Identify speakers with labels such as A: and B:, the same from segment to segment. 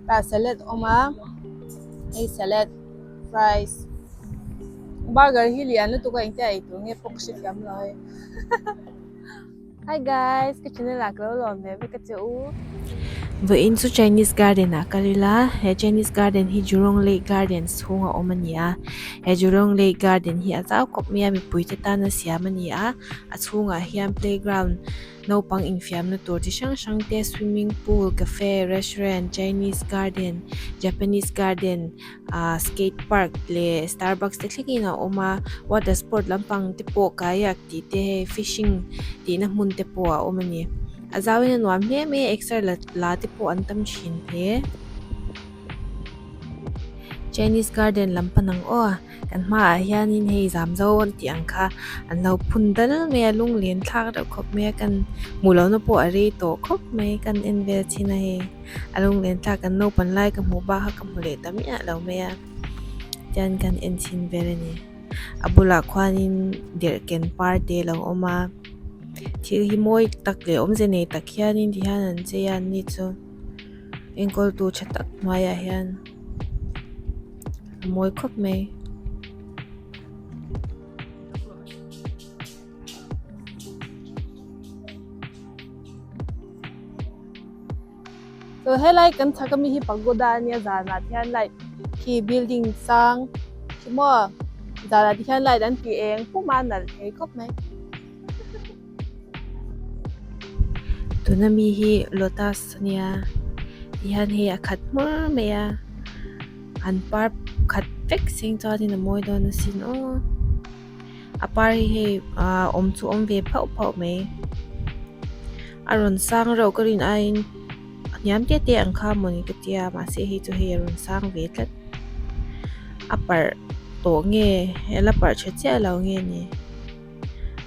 A: Ka salad awm a, hei salad, fries, burger hi lian lutuk a engtiaih tur nge pawh ka hre thiam lo. Hi guys, ka channel a kalo lawm ve ve ka che u. Ve in chu Chinese garden a ka rila. He Chinese garden hi Jurong Lake Garden chhung a awm a ni a. He Jurong Lake Garden hi a zau khawp mai a mipui te tan a siam a ni a. A chhung ah hian playground naupang infiam na tur chi hrang hrang te swimming pool cafe restaurant Chinese garden Japanese garden -- Ahh skate park leh starbucks te thlengin a awm a water sport lampang te pawh kayak tih te hei fishing tihna hmun te pawh a awm a ni a zau in a nuam hle mai a exer la la te pawh an tam thin hle chinese garden lam pan ang aw kan hma ah hian in hei zam zo an tih ang kha an lo phun dal mai a lunglen thlak reuh khawp mai a kan hmu lohna pawh a rei tawh khawp mai kan en vel chhin a hei. A lung len thlak kan naupang lai ka hmuh bak kha ka hmu leh ta miah lo mai a chuan kan en chhin vel a ni a bulah khuanin derhken par te lo awm a thil hi mawi tak leh awmze nei tak hianin ti hian an chei a an ni chu enkawl tu tha tak hnuaiah hian a mawi khawp mai. So helai kan thaka mi hi pagoda ania zanah hian light khi building sang chimawh zanah te hian light an ti eng puma nalh thei khawp mai tuna mi hi lotus ania ti hian hei a khat hmur mai a an par khat vek seng chuan in a mawi dawn asin aw. a par hi hei ahh awm chu awm ve phauh phauh mai a rawn sang reuh ka rin aiin hniam te te ang kha mawni ka tia mahse hei chu hei a rawn sang ve tlat a parh tawh nge la parh tha chiah lo nge ni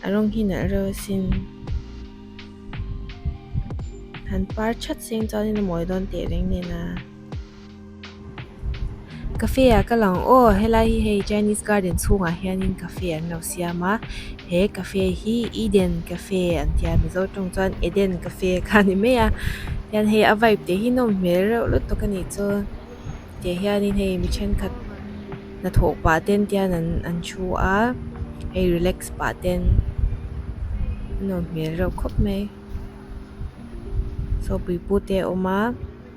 A: a rawng hi nalh reuh asin han par chat se chuan in a mawi dawn teh reng nena. Cafe ah ka lang aw helai hi hei chinese garden chhungah hianin cafe an lo siam a he cafe hi eden cafe an tia mizo tawng chuan eden cafe kha a ni mai a hian hei a vibe te hi nawm hmel reuh lutuk a nih chuan tih ah hian hei mi thenkhat hnathawh pah te an tia hian an thu a hei relax pah te an nawm hmel reuh khawp mai sawpui pute a awm a.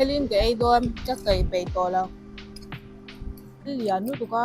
A: Helin ke ei dawn ka kei pei tawh lo. Thil lian lutuk a.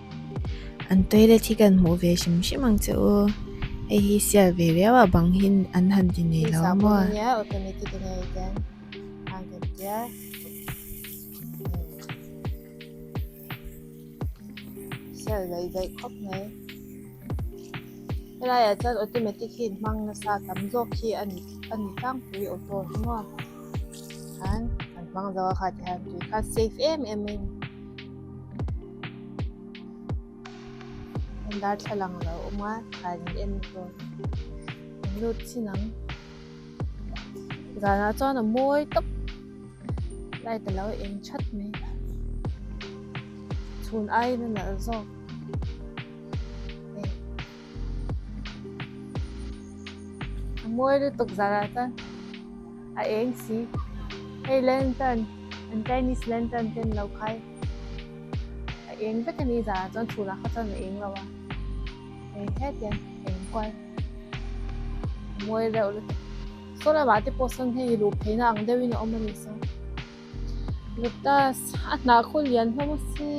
A: An toilet hi kan hmuh ve hrim hrim ang che u. Hei hi sial ve riau a bang hi an han ti nei lo maw. Hei hi automatic a nia chuan hang kan tia. Sial lei daih khawp mai. Helai ah chuan automatic hi in hmang nasa tam zawk hi a ni a ni tlangpui auto hi maw. Khan kan hmang zo a kha ti hian tui kha safe em em in. darthlalang lo awm a thlai an en bawk an lut chin ang zanah chuan a mawi tak light a lo eng that mai a chhun aiin a nalh zawk. A mawi lutuk zarah chuan a eng si. Hei lantern an Chinese lantern te ni lo khai a eng vek a ni zarah chuan chhun ah kha chuan a eng lo a, hei hetiang a eng kual a mawi reuh lutuk. Saw lamah te pawh sawn hei luh pheina ang deuhin a awm a ni sawn. Lotus a hnah khaw lian hlauh a si.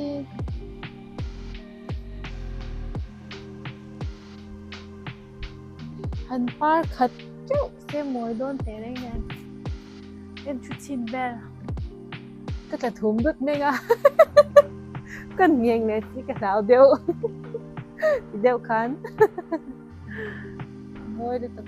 A: Han par khat teuh se mawi dawn teh reng hian kan thu chhin ber ka tla thum lut meng a kan ngheng leh chi ka hlau deuh ti deuh khan mawi lutuk.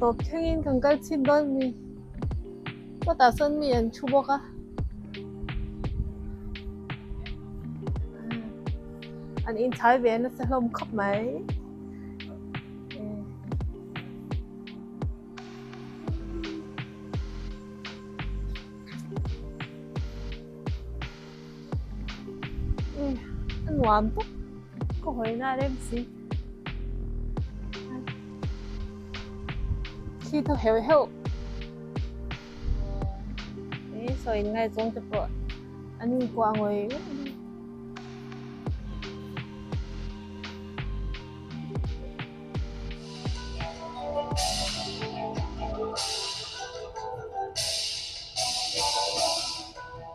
A: Tawp thlengin kan kal chhit dawn mi kawtah sawn mi an thu bawk a. An inchhai ve nasa hlawm khawp mai. nuam tak ka hawi na reng si khi tho heu heu e so in ngai chong te po ani ko angoi Thank you.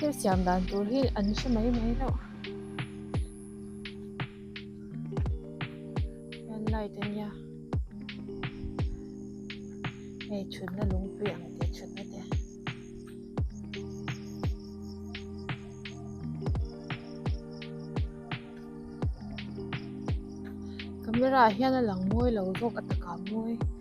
A: Hei siam dan tur hi an hre mai mai loh hian light a nia hei thutna lungpui ang tih thutna te camera ah hian a lang mawi lo vawk a taka mawi.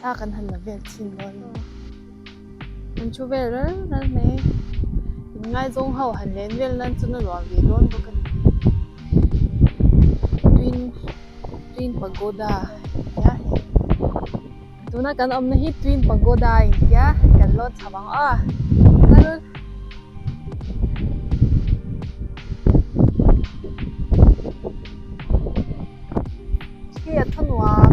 A: Thla kan han la vek chin dawn lo. Kan thu vel ral ral mai. In ngaizawng ho han len vel nan chu na luah ve dawn bawk a ni. Twin Twin Pagoda nia hei. Tuna kan awmna hi Twin Pagoda a intia kan lawn chho ang a. Kal khi a thu nuam.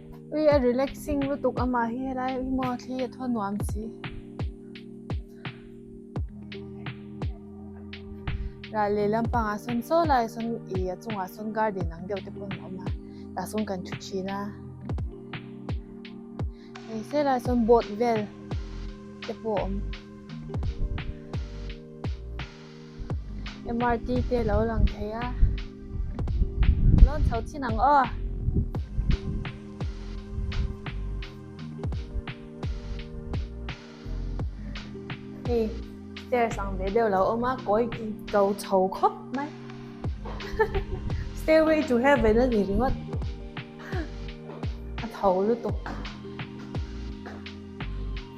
A: Ui a relaxing lutuk a mah hi helai hi maw thli a thaw nuam si. Ral leh lampang ah sawn saw lai ah sawn i a chung ah sawn garden ang deuh te pawh an awm a tah sawn kan thu thin a. Hei se lai ah sawn boat vel te pawh awm. mrt te lo lang thei a lawn chho chin ang aw hei stairs ang ve deuh lo awm a kawi ko chho khawp mai stairway to heaven a ni ringawt a tho lutuk.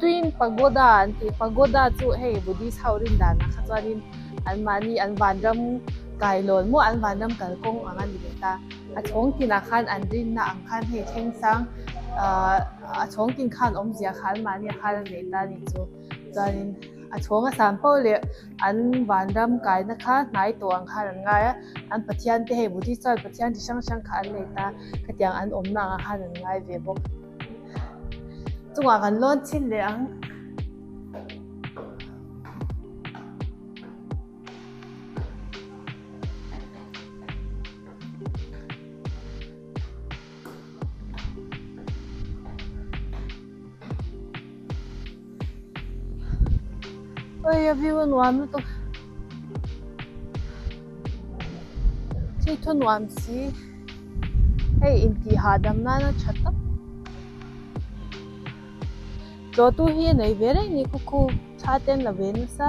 A: Twin Pagoda an tih pagoda chu hei Buddhist ho rin dan ah kha chuanin an mahni an vanram kai lawn maw an vanram kal kawng ang a ni leh ta. A chhawng tin ah khan an rin na ang khan hei thengsang ahh a chhawng tin khan awmzia kha an mahni ah khan an nei ta a ni chu. Chuanin a chhawng a san pauh leh an vanram kaina kha hnai tawh ang khan an ngai a, an Pathian te hei Buddhist chuan Pathian chi hrang hrang kha an nei ta khatiang an awmna ang a khan an ngai ve bawk. Chungah kan lawn chhin leh ang. Oi, a view a nuam lutuk. Chui thu nuam si. Hei inti ha dam nana tha tak. Tlo tu hi nei ve reng ni khuku tha ten la ve nasa.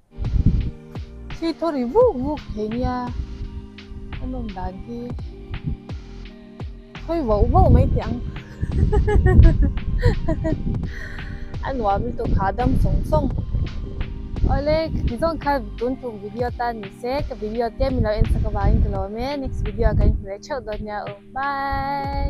A: Khi thaw ri vuk vuk thei nia an awm dan hi thawi vauh vauh mai teh ang. A nuam lutuk kha dam sawng sawng. Awle tizawng kha tun tum video tan ni se ka video te min lo en sak avangin ka lawm e next video ah ka inhmu leh theuh dawn nia aw bye.